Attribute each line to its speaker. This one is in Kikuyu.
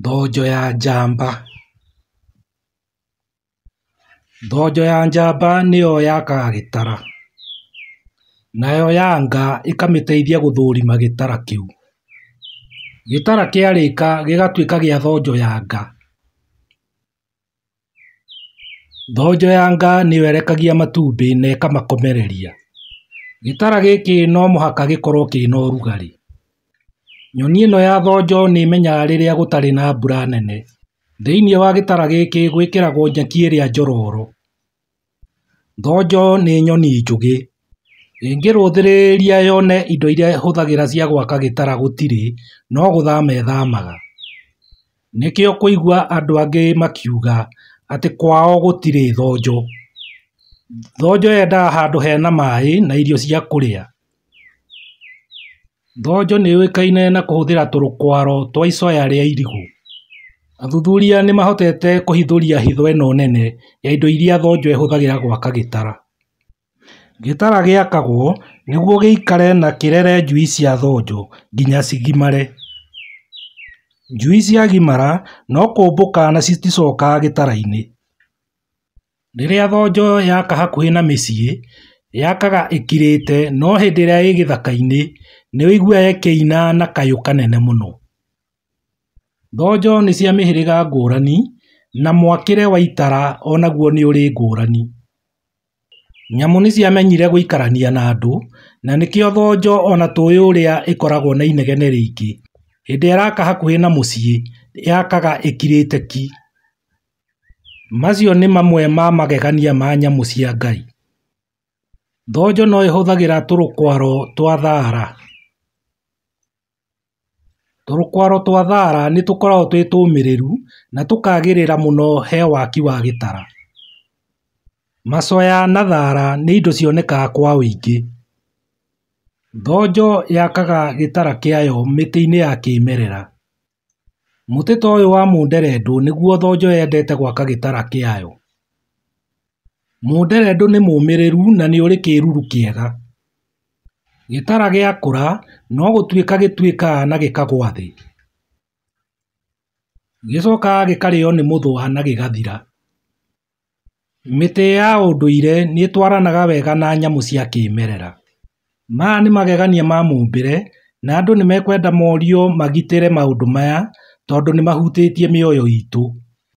Speaker 1: Thonjo ya njamba. Thonjo ya njamba nĩyo yakaga gĩtara, nayo ya nga ĩkamĩteithia gũthũrima gĩtara kĩu. Gĩtara kĩarĩka gĩgatuĩka gĩa thonjo ya nga. Thonjo ya nga nĩyo ĩrekagia matumbĩ na ĩkamakomereria. Gĩtara gĩkĩ no mũhaka gĩkorwo kĩna ũrugarĩ. Nyoni ĩno ya thonjo nĩ ĩmenyaga rĩrĩa gũtarĩ na mbura nene. Thĩinĩ wa gĩtara gĩkĩ gwĩkĩragwo nyeki ĩrĩa njororo. Thonjo nĩ nyoni njũgĩ. Ĩngĩrũthĩrĩria yone indo iria ĩhũthagĩra cia gwaka gĩtara gũtirĩ, no gũthama ĩthamaga. Nĩkĩo ũkũigua andũ angĩ makiuga atĩ kwao gũtirĩ thonjo. Thonjo yendaga handũ hena maĩ na irio cia kũrĩa. Thonjo nĩ yũĩkaine na kũhũthĩra tũrũkwaro twa icoya rĩa irigũ. Athuthuria nĩ mahotete kũhithũria hitho ĩno nene ya indo iria thonjo ĩhũthagĩra gwaka gĩtara. Gĩtara gĩakagwo nĩguo gĩikare na kĩrere njui cia thonjo nginya cigimare. Njui ciagimara no kũmbũka na citicokaga gĩtara-inĩ. Rĩrĩa thonjo yaka hakuhĩ na mĩciĩ, yakaga ĩkirĩte no hĩndĩ ĩrĩa ĩ gĩthaka-inĩ nĩ ũiguaga ĩkĩina na kayũ kanene mũno. Thonjo nĩ cia mĩhĩrĩga ngũrani na mwakĩre wa itara o naguo nĩ ũrĩ ngũrani. Nyamũ nĩ ciamenyire gũikarania na andũ na nĩkĩo thonjo ona tũĩ ũrĩa ĩkoragwo na inegene rĩingĩ. Hĩndĩ ĩraka hakuhĩ na mũciĩ yakaga ĩkirĩte ki. Macio nĩ mamwe ma magegania ma nyamũ cia Ngai. Thonjo no ĩhũthagĩra tũrũkwaro twa thara. Tũrũkwaro twa thara nĩ tũkoragwo twĩ tũmĩrĩru na tũkagĩrĩra mũno he waki wa gĩtara. Macoya na thara nĩ indo cionekaga kwa ũingĩ. Thonjo yakaga gĩtara kĩayo mĩtĩ-inĩ ya kĩmerera. Mũtĩ ta ũyũ wa mũnderendũ nĩguo thonjo yendete gwaka gĩtara kĩayo. Mũnderendũ nĩ mũmĩrĩru na nĩ ũrĩ kĩruru kĩega. Gĩtara gĩakũra no gũtuĩka gĩtuĩkaga na gĩkagwa thĩ. Gĩcokaga gĩkarĩo nĩ mũthũa na gĩgathira. Mĩtĩ ya ũndũire nĩtwaranaga wega na nyamũ cia kĩmerera maya nĩ magegania ma mũmbĩre na andũ nĩmekwenda morio magitĩre maũndũ maya tondũ nĩmahutĩtie mĩoyo itũ